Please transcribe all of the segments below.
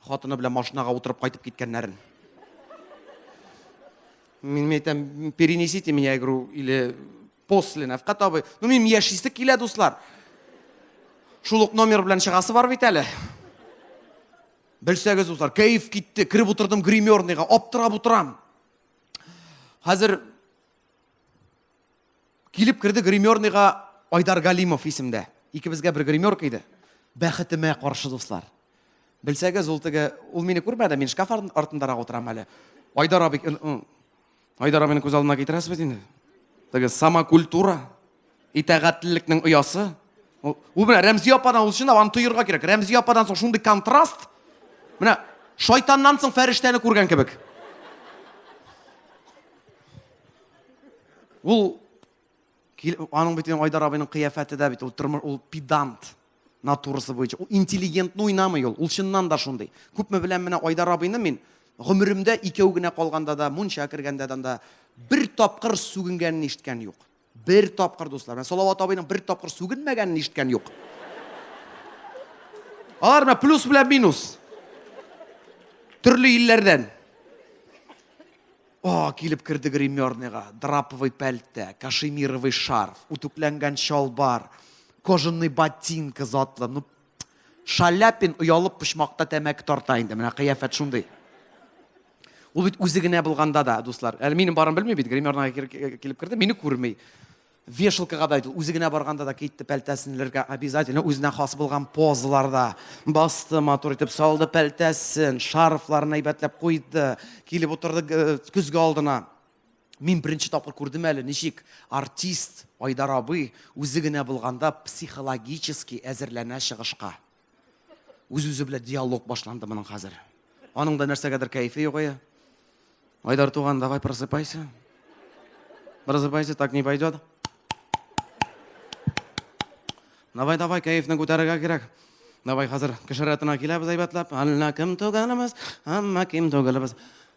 Хатыны белән машинага утырып кайтып киткәннәрен. Мин әйтәм, перенесите меня игру или после Нәфкат абый. Ну, мин яшисе килә, дуслар. Шул ук номер белән чыгасы бар бит әле. Белсәгез, дуслар, кәеф китте. Кереп утырдым гримерныйга, аптырап утырам. Хәзер Килеп керде гримерныйга Айдар Галимов исемдә. Икебезгә бер гримерка иде. Бәхетемә каршы, дуслар. Белсәгез, ул теге, ул мине күрмәде, мин шкаф артындарак утырам әле. Айдар абый, Айдар абыйны күз алдына китерәсез бит инде. Теге самокультура, итәгатьлелекнең оясы. Ул менә Рәмзи ападан ул чынлап аны тоерга кирәк. Рәмзи ападан соң шундый контраст. Менә шайтаннан соң фәрештәне күргән кебек. Ул аның бит Айдар абыйның кыяфәте дә бит ул тормыш ул педант натурасы буенча. Ул интеллигентны уйнамый ул. Ул чыннан да шундый. Күпме беләм менә Айдар абыйны мин гомеремдә икәү генә калганда да, мунча кергәндә дә бер тапкыр сүгенгәнен ишеткән юк. Бер тапкыр дуслар. Менә Салават абыйның бер тапкыр сүгенмәгәнен ишеткән юк. Алар менә плюс белән минус. Төрле илләрдән. О, килеп керде гримерныйга, драповый пәлтә, кашемировый шарф, үтүкләнгән чалбар, кожаный ботинка затлы. Ну, Шаляпин оялып почмакта тәмәке тарта инде, менә кыяфәт шундый. Ул бит үзе генә булганда да, дуслар. Әле минем барым белми бит, гримерныйга килеп керде, мине күрми. Вешалкага да, үзе генә барганда да китте, пәлтәсен элергә обязательно, үзенә хас булган позаларда басты, матур итеп салды пәлтәсен, шарфларын әйбәтләп куйды, килеп утырды э, көзге алдына. Мин беренче тапкыр күрдем әле, ничек артист Айдар абый үзе генә булганда психологически әзерләнә чыгышка. Үз үзе белән диалог башланды моның хәзер. Аның да нәрсәгәдер кәефе югая. Айдар туган, давай просыпайся. Просыпайся, так не пойдет. Давай, давай, кәефне күтәрергә кирәк. Давай хәзер кешератына киләбез әйбәтләп. Әллә кем түгелбез, әмма кем түгелбез.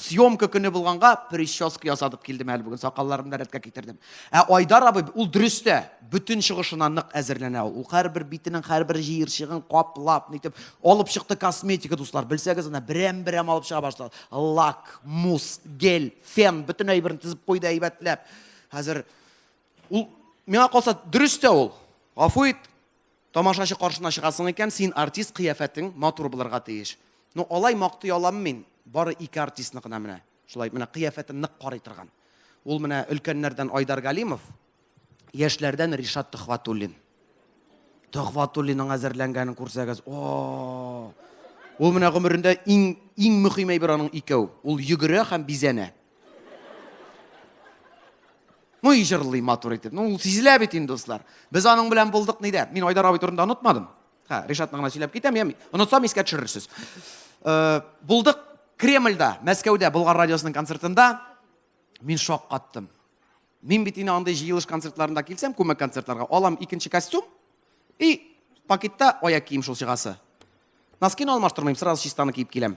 Съемка көне булганга прическа ясатып килдем әле бүген, сакалларымны да рәткә китердем. Ә Айдар абый, ул дөрес тә, бөтен чыгышына нык әзерләнә ул. Ул һәрбер битенең һәрбер җыерчыгын каплап, нитеп алып чыкты косметика, дуслар. Белсәгез, ана берәм-берәм алып чыга башлады. Лак, мусс, гель, фен, бөтен әйберен тезеп куйды әйбәтләп. Хәзер ул миңа калса дөрес тә ул. Гафу ит, Тамашачы каршына чыгасың икән, син артист, кыяфәтең матур булырга тиеш. Ну, алай мактый аламмы мин? Бары ике артистны гына менә шулай, менә кыяфәтен нык карый торган. Ул менә өлкәннәрдән Айдар Галимов, яшьләрдән Ришат Төхватуллин. Төхватуллинның әзерләнгәнен күрсәгез, о! Ул менә гомерендә иң иң мөһим әйбер аның икәү. Ул йөгерә һәм бизәнә. Ну и җырлый матур итеп. Ну, сизелә бит инде, дуслар. Без аның белән булдык нидә? Мин Айдар абый турында онытмадым. Ха, Ришатны гына сөйләп китәм, я онытсам искә төшерерсез. Э, булдык Кремльдә, Мәскәүдә, Болгар радиосының концертында. Мин шок каттым. Мин бит инде андый җыелыш концертларында килсәм, күмәк концертларга, алам икенче костюм, И пакетта аяк кием шул чыгасы. Носкины алмаштырмыйм, сразу чистаны киеп киләм.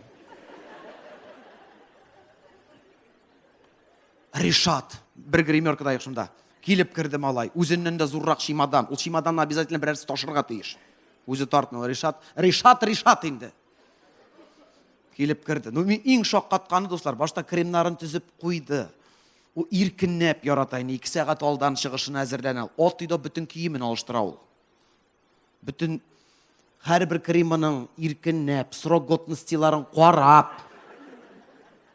Ришат, бер гримерка да шунда. Килеп керде малай, үзеннән дә зуррак чемодан. Ул чемоданны обязательно берәрсе ташырга тиеш. Үзе тартмый, Ришат, Ришат, Ришат инде. Килеп керде. Ну, мин иң шаккатканы, дуслар, башта кремнарын төзеп куйды. Ул иркенләп ярата инде, ике сәгать алдан чыгышына әзерләнә. Ат өйдә бөтен киемен алыштыра ул. Бөтен һәрбер кремының иркенләп, срок годностиларын карап,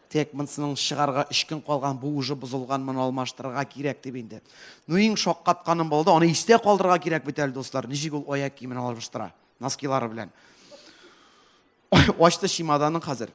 тек монсының чыгарга өч көн калган, бу уже бозылган, моны алмаштырырга кирәк дип инде. Ну, иң шаккатканым булды, аны истә калдырырга кирәк бит әле, дуслар, ничек ул аяк киемен алыштыра, носкилары белән. Ачты чемоданын хәзер.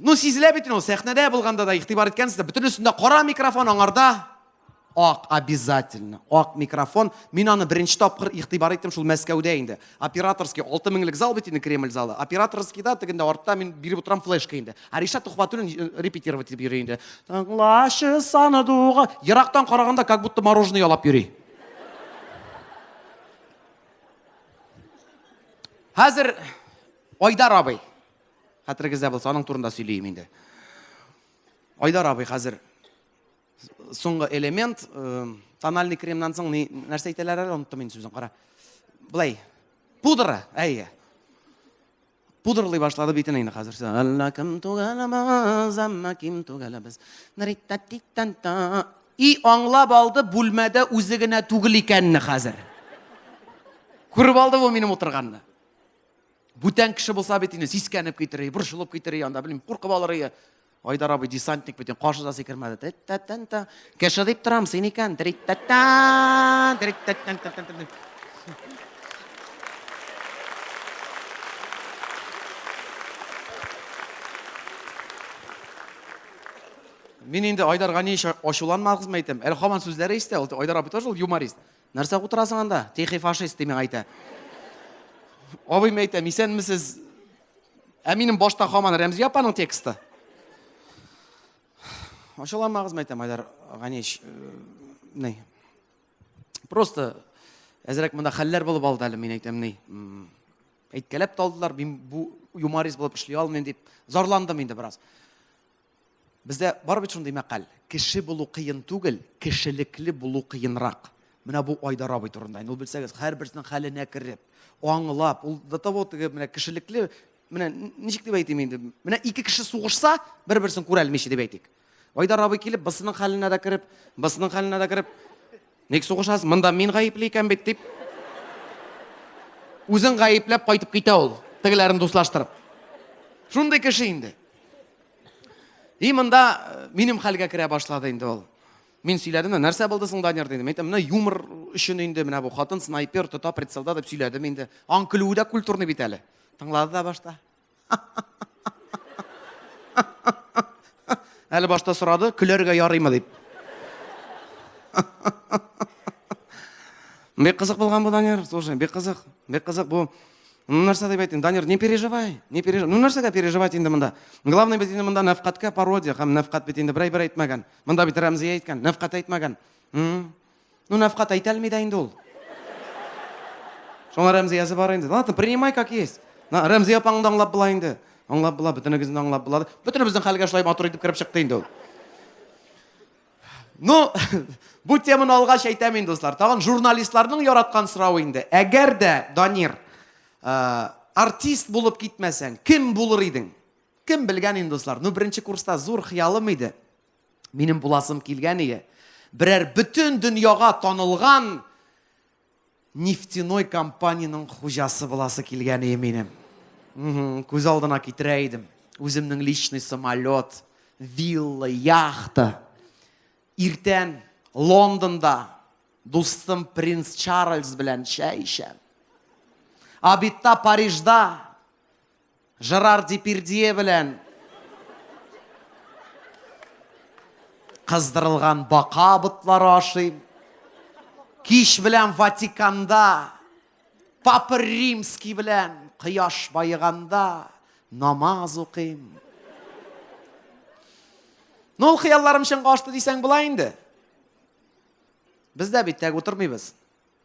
Ну, сизелә бит инде, сәхнәдә булганда да игътибар иткәнсез, бөтен өстендә кара микрофон аңарда. Ак обязательно. Ак микрофон. Мин аны беренче тапкыр игътибар иттем шул Мәскәүдә инде. Операторский 6000лек зал бит инде Кремль залы. Операторскийда тегендә артта мин биреп утырам флешка инде. Ариша Тухватуллин э, репетировать дип йөри инде. Тыңлашы саны дуга. Ерактан караганда как будто мороженое ялап йөри. Хәзер Айдар абый Хәтерегездә булса, аның турында сөйлием инде. Айдар абый хәзер соңгы элемент, э, тональный кремнан соң ни, нәрсә әйтәләр әле, оныттым инде сүзен, кара. Былай, пудра, әйе. Пудрлый башлады битен инде хәзер. Әллә кем түгәләмәз, әмма кем түгәләбез. И аңлап алды бүлмәдә үзе генә түгел икәнне хәзер. Күреп алды бу минем утырганны. Бүтән кеше булса бит инде сискәнеп китер, борчылып китер, анда белмим, куркып алыр ие. Айдар абый десантник бит, каршы да сикермәде. Тәттәттән. Кеше дип торам, син икән. Триттәттән, триттәттән. Мин инде Айдарга ни ачуланмагызмы әйтәм. Әле хаман сүзләре истә, ул Айдар абый тоже ул юморист. нәрсә утырасың анда тихий фашист ди миңа әйтә абыйым әйтәм исәнмесез ә минем башта хаман рәмзия апаның тексты ачуламагыз мәйтәм айдар ганич ни просто әзрәк монда хәлләр булып алды әле мин әйтәм ни әйткәләп талдылар мин бу юморист булып эшли алмыйм дип зарландым инде бераз Бездә бар бит шундый мәкаль, кеше булу кыен түгел, кешелекле булу кыенрак. Менә бу Айдар абый турында. Инде ул белсәгез, һәрберсенең хәленә кереп, аңлап, ул до того теге менә кешелекле, менә ничек дип әйтим инде, менә ике кеше сугышса, бер-берсен күрәлмичә дип әйтик. Айдар абый килеп, бысының хәленә дә кереп, бысының хәленә дә кереп, Ник сугышасыз? Монда мин гаепле икән бит, дип. Үзен гаепләп кайтып китә ул, тегеләрен дуслаштырып. Шундый кеше инде. И монда э, минем хәлгә керә башлады инде ул. Мин сөйләдем дә, нәрсә булды соң, Данир, дидем. Әйтәм, менә юмор өчен инде, менә бу хатын снайпер тота прицелда дип сөйләдем инде. Аң көлүе дә культурный бит әле. Тыңлады да башта. Әле башта сорады, көләргә ярыймы дип. Бик кызык булган бу, Данир, слушай, бик кызык, бик кызык бу. Ну, нәрсә дип әйтим, Данир, не переживай, не переживай. Ну, нәрсәгә переживать инде монда? Главный бит инде монда нәфкатькә пародия, һәм нәфкат бит инде берәй бер әйтмәгән. Монда бит Рәмзия әйткән, нәфкат әйтмәгән. Ну, нәфкат әйтә алмый да инде ул. Шуңа Рәмзиясе бар инде. Ладно, принимай как есть. На, Рәмзия апаңны да аңлап була инде. Аңлап була, бөтенегезне аңлап була. Бөтенебезнең хәлгә шулай матур итеп кереп чыкты инде ул. Ну, бу теманы алгач әйтәм инде, дуслар. Тагын журналистларның яраткан сорауы инде. Әгәр дә, Данир, э, артист булып китмәсәң, кем булыр идең? Кем белгән инде, дуслар? Ну, беренче курста зур хыялым иде. Минем буласым килгән ие. Берәр бөтен дөньяга танылган нефтяной компаниянең хуҗасы буласы килгән ие минем. Күз алдына китерә идем. Үземнең личный самолет, вилла, яхта. Иртән Лондонда дустым принц Чарльз белән чәй эчәм. Абитта Парижда Жерар Депирдье белән кыздырылган бака ботлары ашыйм. Кич белән Ватиканда Папа Римский белән кояш баеганда намаз укыйм. Ну, ул хыялларым чынга ашты дисәң була инде. Без дә бит тәк утырмыйбыз.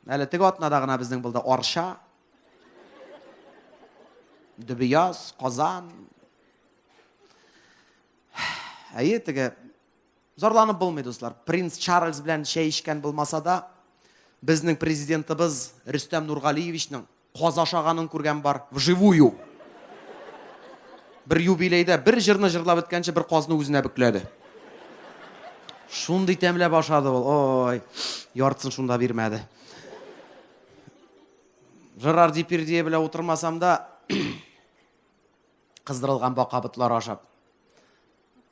Әле теге атнада гына безнең булды Арча, Дөбияз, Казан. Әйе, теге зарланып булмый, дуслар. Принц Чарльз белән чәй эчкән булмаса да, безнең президентыбыз Рөстәм Нургалиевичның Каз ашаганын күргән бар, вживую. Бер юбилейда бер җырны җырлап беткәнче бер казны үзенә бөкләде. Шундый тәмләп ашады ул, ой, яртысын шунда бирмәде. Жерар Дипирдия белән утырмасам да, кыздырылган бака ботлары ашап.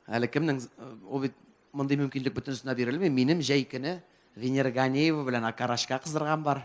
Әле кемнең, ул бит мондый мөмкинлек бөтенесенә бирелми. Минем җәй көне Венера Ганеева белән Акарашка кыздырган бар.